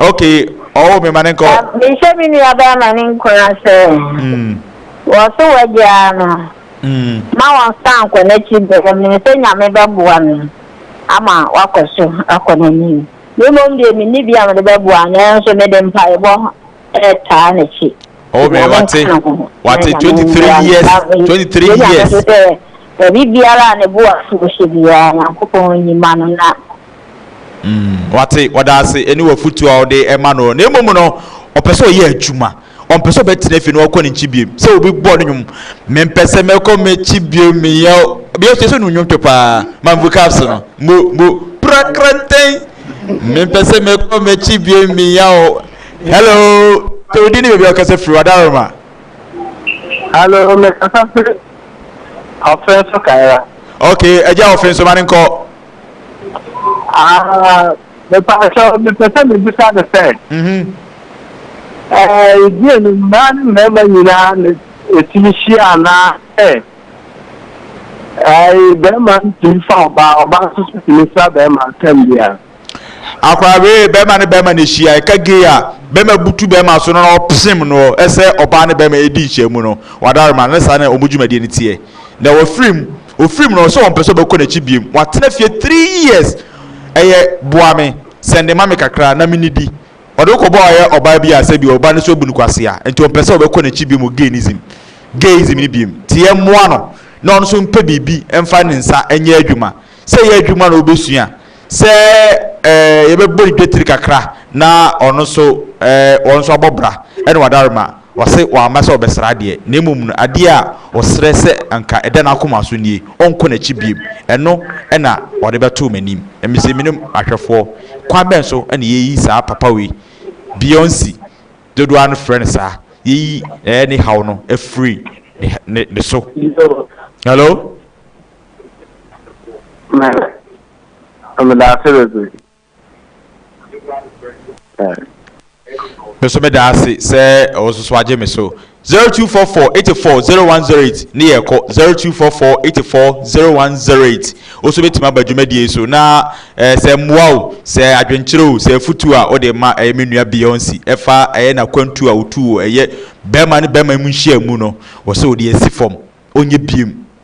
Okay, ɔwɔ mi ma ne nkɔ. Mehyɛ me nua bɛɛ ma ne nkura sɛ hmm. wɔso wagyaa no hmm. ma wɔnsa nkɔ n'akyi bɛɛ mene sɛ nyame bɛboa me ama wakɔ so akɔ n'anim. Me mmom deɛ menni bi a mede bɛboa nanso mede mpaebɔ ɛtaa n'akyi. Oh, me wate wate 23 years 23 years. Baabi biara a ne bo afu hyɛ biara nyankopɔn nyima no na Mm, wate, ɔda ase ne w'afotu a ɔde ma no, na mmom no, ɔpɛ sɛ ɔyɛ adwuma. Ɔmpɛ sɛ ɔbɛtena fie na ɔkɔ ne nkyi biom. Sɛ obi bɔ no nnwom, mempɛ sɛ mɛkɔ m'akyi biom, meyɛ bia sɛ no nnwom to paa, mambu caps no, mo, mo, prakrantɛn, mempɛ sɛ mɛkɔ m'akyi biom, meyɛ o. Hello, sɛ odi ne baabi a ɔkasa firi wadaroma. Hello, mekasa firi ɔfɛn so kaera. Okay, agya ɔfɛn so ma ne nkɔ. Mepɛsɛ mepɛ sɛ mebisa no sɛ ɛdeɛ no mmaa ne mmarima nyinaa na ɛtumi hyia anaa sɛ bɛrima ntumi fa ɔbaa ɔbaa nso so tumi fa bɛrima tam bia akwaa wee bɛrima ne bɛrima na ɛhyia ɛka gei a bɛrima butu bɛrima so no na ɔpsem no ɛsɛ ɔbaa ne bɛrima ɛdi nhyia mu no wadarema ne saa na ɔmu dwumadie no teɛ na wɔfirim Ofiri mu no ɔse ɔmpɛ sɛ ɔbɛkɔ n'akyi biom. Watena fie three years ɛyɛ boa me, sɛnde ma me kakra na me nidi. Ɔde wo kɔbɔ ɔyɛ ɔbaa bi a sɛbi ɔbaa no so abu no kwasea nti ɔmpɛ sɛ ɔbɛkɔ n'akyi biom wɔ gaynism, gayism, no biom. Nti yɛ mmoa no na ɔno nso mpɛ biribi mfa ne nsa nyɛ adwuma. Sɛ ɛyɛ adwuma na ɔbɛsua a Sɛ yɛbɛbɔ ne dwetire kakra na ɔno nso wɔn nso abɔ bra ne w'adarema a, ɔse wamma sɛ ɔbɛsra adeɛ, na mmom no adeɛ a ɔsrɛ sɛ anka ɛda n'akoma so nie, ɔnkɔ n'akyi biom, ɛno na ɔde bɛtoo m'anim. Na mise mene ahwɛfoɔ. Kwan bɛn so na yɛyi saa papa wei, Beyonce, dodoɔ ara no frɛ no saa, yɛyi ne haw no afiri ne so? Hello? meda ase bebree. Me nso meda ase sɛ wo nso so agye me so. Zero two four four eighty four zero one zero eight ne yɛ kɔ zero two four four eighty four zero one zero eight. Wo nso bɛtumi aba dwumadie yi so na ɛɛ sɛ mmoa o, sɛ adwenkyerɛ o, sɛ afutuo a wode ma ɛyɛ me nua Beyonce ɛfa ɛyɛ n'akwantuo a ɔtuu wɔ ɛyɛ bɛɛma ne bɛɛma mu nhyiamu no, wɔ sɛ ɔde asi fam ɔnyɛ biem.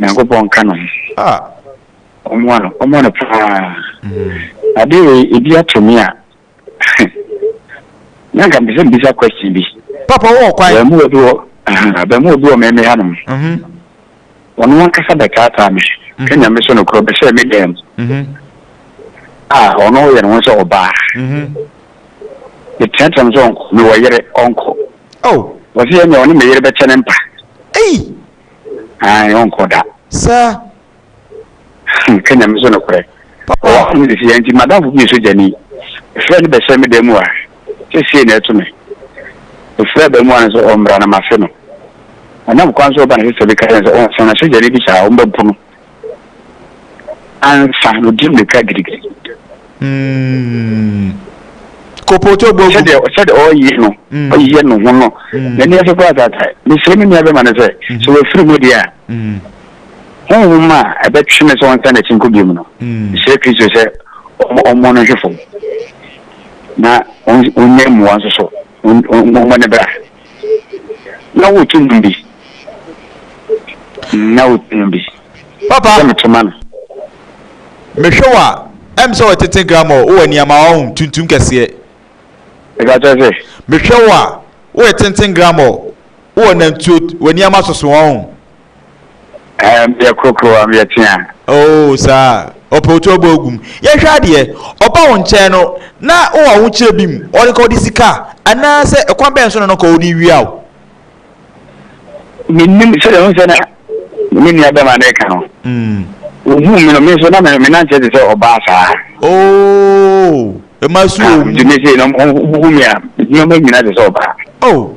nyankopɔn nka no ɔmoa no ɔmoa no paa ade wei ebi ato me a na nka mpɛ sɛ mbisa question bi papa wɔ kwan abamuwa bi wɔ abamuwa bi wɔ mɛmɛ ha nom ɔno ankasa bɛtaataa me ka nyame so no korɔ bɛhyɛ me dɛm a ɔno yɛ ne ho sɛ ɔbaa meteateam sɛ ɔnkɔ mewɔ yere ɔnkɔ Oh. Wɔsi yɛ nea ɔne me yere bɛkyɛ ne mpa. Ei. Ayi ɔnkɔ da. Sɛ. Hmm, kenya me so no korɛ. Papa. Ɔwɔ ahom de si yɛn nti madamfo bi yɛ sogyani. Efrɛ no bɛhyɛ me dan mu a, sɛsie na ɛto me. Efrɛ bɛn mu a no sɛ ɔmmra na mafe no. Ɔnam kwan so ɔba na sɛ sɛ bi ka kyerɛ no sɛ ɔnsan na sogyani bi saa ɔmba mpo no. ansa na ɔdi mmirika girigiri. Mm. Kopoto bogu. Sɛdeɛ sɛdeɛ ɔreyɛ no mm. ɔyɛ ne ho no mm. n'ani ase kora tata mesrɛ me nua bɛma no sɛ mm. sɛ wafiri mu deɛ a honhom a ɛbɛtwe ne sɛ ɔnsa n'akyi nkɔ biom no mesrɛ kristo sɛ ɔmmɔ no hwefo na ɔnyɛ mmoa nso so Wɔmmɔ no bra. Na wotu nnwom bi. Na wotu nnwom bi. Papa. Sɛ meto ma no. Mehwɛ wo a, ɛm sɛ wɔtete grammar wɔ nneɛma wɔ ho tuntum kɛseɛ. Ɛka kyerɛ sɛ. Mehwɛ wo a, woyɛ tenten grammar wɔ nantuo wɔ nneɛma soso wɔ ho. Ɛɛ meyɛ korokoro a meyɛ tea. Oo saa ɔpɛ otu ɔbɔ agu mu. Yɛhwɛ adeɛ ɔba wo nkyɛn no na wowɔ ahokyerɛ bi mu ɔde ka ɔde sika anaasɛ ɛkwan bɛn so na no ka ɔde wia wo. Menim sɛdeɛ ho sɛ na me nua bɛma no ɛka no. Ohuu me no me nso na me nanteɛ te sɛ ɔbaa saa. Oo ɛma su wɔ mu. Nti me se no ɔmo hu me a me nyina te sɛ ɔbaa. Oh.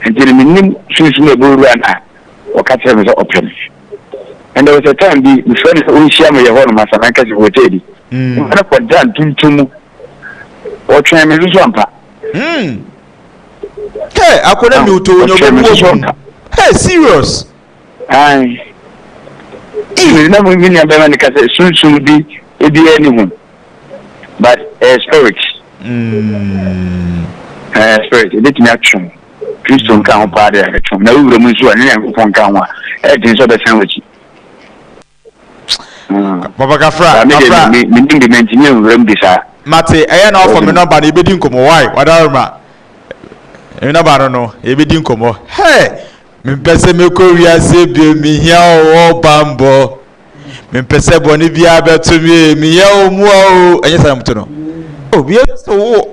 nti no mennim sunsum a ɛbɛwura no a ɔka kyerɛ me sɛ ɔpɛ me. And there was a time bi mefrɛ no sɛ ɔnhyia me yɛ hɔnom Asanankɛse hotel bi hmm. mma no kɔda ntontom mu ɔtwɛn me nso ampa hmm. Hey, akɔda mi wotɔ onyabobuo mu. Hey, serious. Ae. Even na mo mi nua bɛma ne ka sɛ sunsum bi ebi yɛ ne hu. But ɛyɛ eh, spirit. Mm. Ɛyɛ eh, spirit. Ebi tumi atwe ho. Kristo nka ho paa de ɛtwe ho. Na wura mu nso a ne Nyankopɔn nka ho a ɛden sɛ ɔbɛsan w'akyi. Papa kafra kafra. Me me nim de me ntumi nfrɛ mu de saa. Mate ɛyɛ na wafa me nɔmba no yɛbɛdi nkɔmmɔ why wadaworo ma me nɔmba no no yɛbɛdi nkɔmmɔ hey mempɛ sɛ mekɔ wiase bio mehia ɔwɔ bambɔ mempɛ sɛ bɔne biara bɛto me meyɛ wo mmoa o ɛnyɛ sɛ na moto no oh meyɛ sɛ wo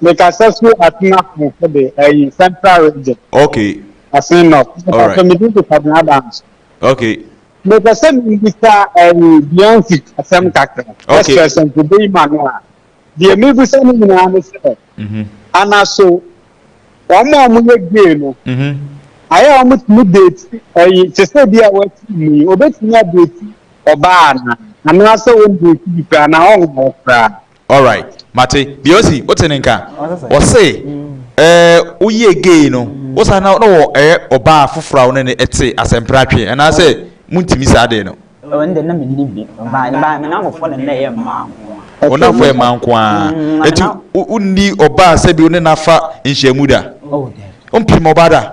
Me kasa su asen akanfo de, ɛyi central region. Okay. Asen north. Me kasa me di Kwabena Adams. Okay. Me kasa me di sa ɛyi Beyonce asɛm kakra. Okay. Ɛsɛ ɛsɛ nkubu yi ma no a. Deɛ me bu sa ne nyinaa ne sɛ. Mhm. Anaso wɔn a wɔn yɛ gay no. Mhm. Ayɛ a wɔn tumi deeti ɛyi te sɛ bi a wɔati mu yi obetumi adeeti ɔbaa ana anaasɛ wɔn deeti bi koraa na ɔnwɔ koraa. Alright, mate. Deɛ ɔsi, wote ne nka? Ɔse, ɛɛ, woyɛɛ gay no, wo saa na wɔ ɛyɛ ɔbaa foforɔ a wo ne no te asɛmpratwe, anaasɛ montumi saa adeɛ no? Ɛwɔ ne deɛ na menni bi, but me ba, me namfofoɔ na na ɛyɛ mmaa nko ara. Wo namfofoɔ yɛ mmaa nko ara? Mm, na me nam. Eti wonni ɔbaa sɛ bi wo ne no afa nhyiamu da? Oh, daabi. Wompem ɔbaa da?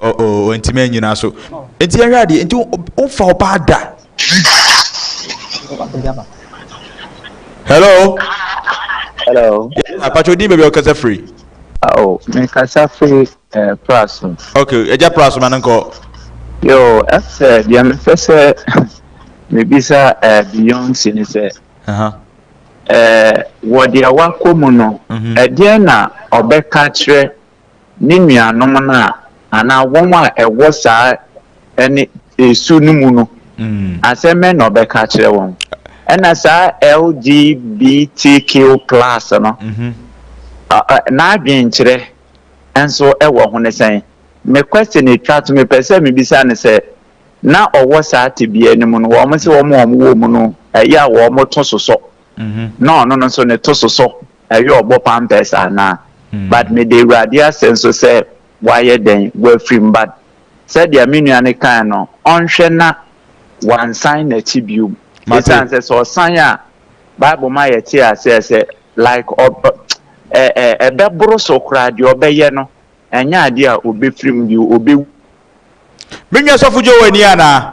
Oh oh, ɔntumi anyina so. Nti yɛhwɛ adeɛ, nti womfa ɔbaa da. Hello. Hello. Apatwa odin baabi a ɔkasa firi. Oh, mekasa firi eh, Praso. Okay, ɛgya Praso ma no nkɔ. Yo, ɛsɛ deɛ mepɛ sɛ mebisa eh, Beyonce ne sɛ. Uh-huh. Eh, wɔ deɛ wakɔ mu no, ɛdeɛ mm-hmm. na ɔbɛka kyerɛ ne nuanom no a, anaa wɔn a ɛwɔ saa ɛne esu no mu no, asɛm bɛn na ɔbɛka akyerɛ wɔn? Ɛna saa LGBTQ plus no, n'adwenkyerɛ nso wɔ ho ne sɛn? Me question etwa to, mepɛ sɛ mebisa no sɛ, na ɔwɔ saa tebea no mu no, wɔn se wɔn a wɔwɔ mu no, ɛyɛ a wɔto sosɔ, na ɔno no nso ne to sosɔ. ɛyɛ ɔbɔ pampers anaa but meda awurade ase nso sɛ wayɛ dɛn wafirim but sɛdeɛ me nua no kae no ɔnhwɛ na wansan n'akyi biom ɛsiane sɛ sɛ ɔsan a bible ma yɛte aseɛ sɛ like ɛbɛboro so koraa deɛ ɔbɛyɛ no ɛnyɛ adeɛ a ɔbɛfirim bio ɔbɛwu menua sɔfo dwo wɔ ani anaa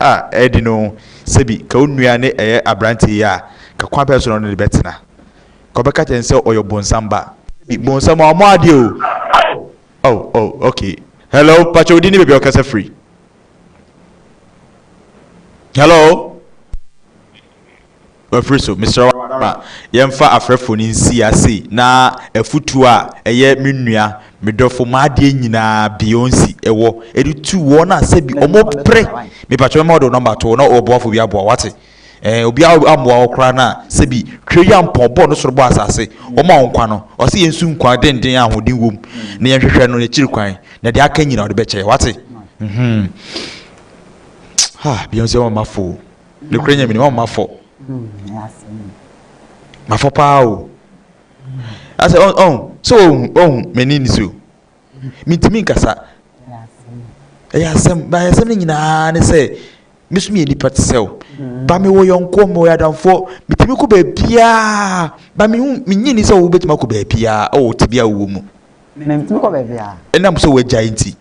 a ɛredi no sɛbi ka wo nua ne ɛyɛ aberanteɛ yi a, ka kwan bɛn so na ɔne no bɛtena? Ka ɔbɛka kyerɛ no sɛ ɔyɛ ɔbonsam ba. Sɛbi bonsam a ɔmmɔ adeɛ o. Oh, oh, ok. Hello, pakyɛ wo din ne baabi a wokasa firi? Hello? Afiri so, mesrɛ wo ara ma yɛmfa afrɛfoɔ no nsia sei na afutuo a ɛyɛ me nua, me dɔfo, m'adeɛ nyinaa, Beyonce, wɔ de tu wɔn a sɛbi wɔpere. Mepakyɛ wo mɛma wode wo nɔmba ato hɔ na ɔboafoɔ bi aboa wo, wate? Ɛɛ, obiara ammoa wo koraa no a, sɛbi Tweayampɔn, ɔbɔɔ ne soro bɔɔ asase, ɔma wo nkwa no, ɔse yɛn nsu nkwa denden a ahoɔden wom, na yɛnhwehwɛ no n'akyiri kwan, na deɛ aka nyinaa ɔde bɛkyɛ yɛn, wate? Mhmm, ha, Beyonce, wama mafo o. Nokorɛ Nyameni wɔn mma fɔ. Mafɔ paa o. Asɛ ɔn ɔn sɛ ɔhu ɔhu m'ani ni so. Mintumi nkasa. Ɛyɛ asɛm ba asɛm no nyinaa ne sɛ me so meyɛ nipa te sɛ wo. Ba mewɔ yɔnkoɔ mewɔ adamfoɔ metumi kɔ baabiaa ba mehu menye ni sɛ wobɛtumi akɔ baabiaa ɛwɔ tebea wowɔ mu. Mentumi kɔ baabiaa. Ɛnam sɛ wagyae nti.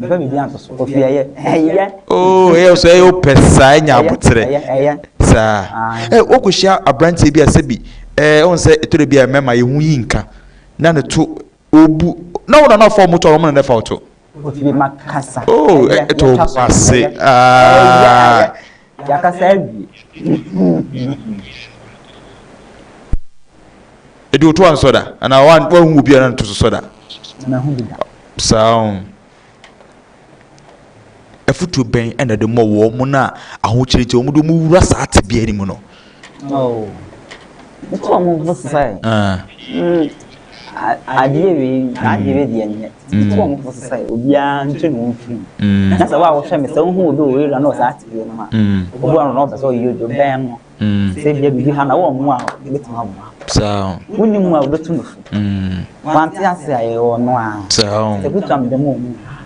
Mfa biribi anto so. Ofi ɛyɛ. Ɛyɛ. Oh, ɛyɛ so ɛyɛ opɛ saa ɛnya abotrɛ. Ɛyɛ ɛyɛ. Saa. Ɛ wokohyia abranteɛ bi a sɛbi ɛɛ wɔn sɛ ɛtɔ de bi a mɛma yɛ ho yi nka na ne to obu na wɔn na na fɔm to a wɔn na na fɔm to. Ofi ma kasa. Oh, ɛtɔ obu ase. Ɛyɛ ɛyɛ. Yɛakasa awie. Ɛdi otu ansɔ da anaa woahu obi a na ne to so sɔ da? Mahu bi da. Saa o. Afotuo bɛn na de mɔ wɔn a ahokyere nti wɔn de wɔn wura saa tebea no mu no? Oh, nti ɔmo fo sɛ adeɛ wei n'adeɛ wei deɛ nyɛ nti ɔmo fo sɛ obiara ntwe ne ho mfiri mu na sɛ wo a wohwɛ me sɛ wohu obi wɔ area na ɔsɛ ate deɛ no a obi ano na ɔpɛ sɛ ɔyɛ odwo bɛn no sɛ ebia biribi ha na wɔn mu a ebɛtumi aboa saa wonim mu a wobɛtu no fo wante ase a yɛwɔ no a sɛ kuta meda mu ɔmu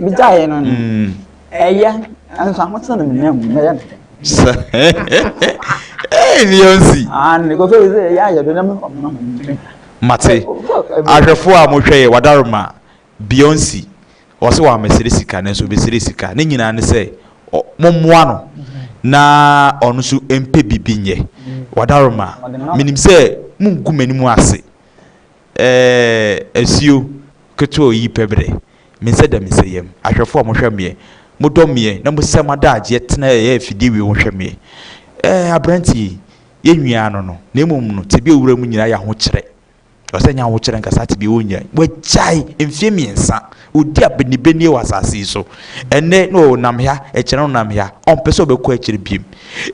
Migyaeɛ no no. Mm. Ɛyɛ nso ahotene no menam mu mɛyɛ no dɛn? Sɛ ɛyɛ Beyonce. Ah, ne kɔfɛ yi sɛ ɛyɛ ayɛ do na mefa mo na mo ntumi. Mate. Ahwɛfo a mohwɛ yɛ wadaroma Beyonce. Ɔsɛ wa mesere sika nanso obesere sika. Ne nyinaa ne sɛ mommoa no na ɔno nso mpɛ biribi nyɛ. Wadaroma. Menim sɛ mungu m'anim ase. Eh, asuo ketewa yi pɛ berɛ Me nsɛ dɛ me sɛ yam Ahwɛfoɔ a mohwɛ meɛ Mo dɔ meɛ na mo sɛ m'adagyeɛ Tena ɛyɛ afidie wei ho hwɛ meɛ Eh, aberanteɛ yi Yɛ nwiaa no no Na mmom no Tebea owura mu nyinaa yɛ ahokyerɛ Ɔsɛ nyɛ ahokyerɛ nka saa tebea wɔ nyinaa Wagyae mfeɛ mmiɛnsa Ɔdi abenibenie wɔ asase yi so Ɛnnɛ na ɔnam ha Ɛkyerɛ na ɔnam ha Ɔmpɛ sɛ ɔbɛkɔ akyire biom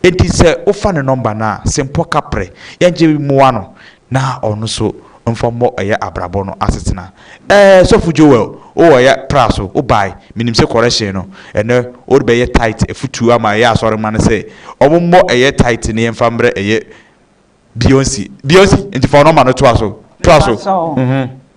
Enti sɛ wofa ne nɔmba no a Sempɔ kaprɛ Yɛngye mmoa no na ɔno nso mfa mmɔ ɛyɛ abrabɔ no asetena ɛɛ sɔfo Joel o ɔyɛ tra so wo bae menim sɛ correction no ɛnɛ wode bɛyɛ tithe afutuo ama ɛyɛ asɔre mma no sɛ ɔmo mmɔ ɛyɛ tithe no yɛmfa mmrɛ ɛyɛ Beyonce Beyonce nti fa ɔnɔma no toa so toa so Mepakyɛw, mhm.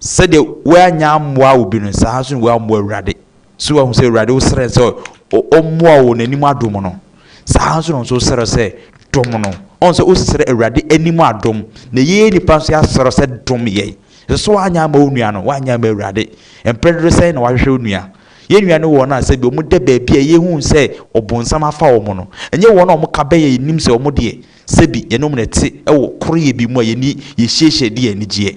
Sɛdeɛ woannya ammoa obi no, saa ara nso na woammoa Awurade. So woahu sɛ Awurade wosrɛ no sɛ ɔmmoa wo n'anim adom no? Saa ara nso na wo nso wosrɛ sɛ dom no. Ɔhu sɛ wosrɛ Awurade anim adom, na yei nnipa nso yɛasrɛ sɛ dom yɛn. Ɛsɛ sɛ woanyɛ ama wo nua no, woanyɛ ama Awurade. Mprɛ dodo sɛn na wahwehwɛ wo nua? Yɛn nua ne wɔn a sɛ bi wɔda baabi a yɛhu sɛ ɔbonsam afa wɔn no. Ɛnyɛ wɔn a wɔka bɛn a yɛnim sɛ wɔn deɛ, sɛ bi, yɛne wɔn na ɛte wɔ koroyɛ bi mu a yɛni, yɛhyiahyia di yɛn anigyeɛ.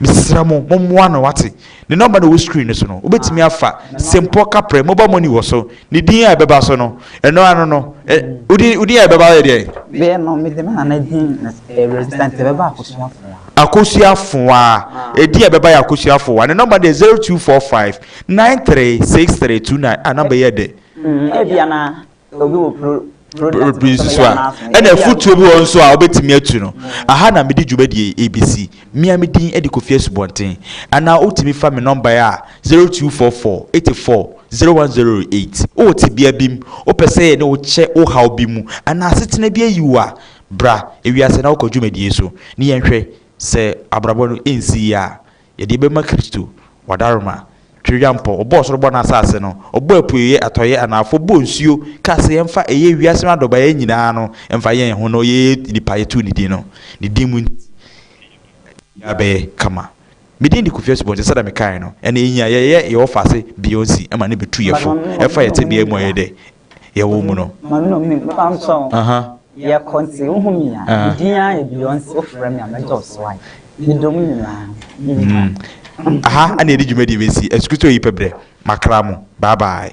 Mesrɛ mo mommoa no wate. Ne nɔmba na ɛwɔ screen no so no. Wobɛtumi afa Simpɔ Kaprɛ mobile money wɔ so. Ne din a ɛbɛba so no, ɛno ano no. Ɛ, wo din, wo din a ɛbɛba yɛ deɛn? Deɛ no, mede me nana din na ɛyɛ resident, ɛbɛba Akosua Afoa. Akosua Afoa. Ɛdin a ɛbɛba yɛ Akosua Afoa. Ne nɔmba no yɛ 0245 936329. Ah, nɔmba yi yɛ dɛ. Mm, ebia na pii nso so a ɛna afutuo bi wɔ nso a wobɛtumi atu no aha na mede dwumadie ɛbɛsi mea me din de kofi asubɔnten anaa wotumi fa me nɔmbae a 0244 84 0108 wowɔ tebea bi mu wopɛ sɛ yɛne wo kyɛ wo haw bi mu anaa asetena bi ayi wo a bra ewiase na wokɔ dwumadie so ne yɛnhwɛ sɛ abrabɔ no ɛnsi yie a Yɛde yɛbɛma Kristo, W'adaroma, Tweredwampɔ, Ɔbɔɔ soro bɔɔ n'asaase no, Ɔbɔɔ apueeɛ, atɔeɛ, anafoɔ, Ɔbɔɔ nsuo, kaa sɛ yɛmfa ɛyɛ wiase no adɔbaeɛ nyinaa no mfa yɛ yɛn ho na ɔyɛ nipa yɛtoo ne din no, ne din mu nti biribiara bɛyɛ kama. Me din de Kofi Asubɔnten sɛdeɛ mekaeɛ no, ɛna ɛnyi a yɛyɛ yɛwɔ faase Beyonce ma no bɛtu yɛfo, ɛfa yɛn tebea mu a yɛyɛ dɛ, yɛwɔ mu no. Maame no me mfa nkyɛ wo. Yɛ kɔ nti wo ho hia. Me din ara yɛ Beyonce wo frɛ me a mɛ dɔ so ae. Me dɔ mo nyinaa me wura. Aha ɛna yɛde dwumadie bɛsi Asukristo yi pɛ berɛ makra mo bye bye.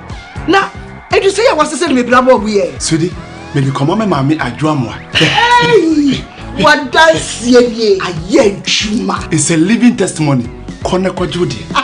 na edu sɛ yɛ wɔsɛ sɛ de me bra bɔɔbo yɛ. sudi mede kɔma me maame adwoa mmoa. wadanseɛ nie ayɛ adwuma. it's a living testimony kɔ na kɔgye wo deɛ.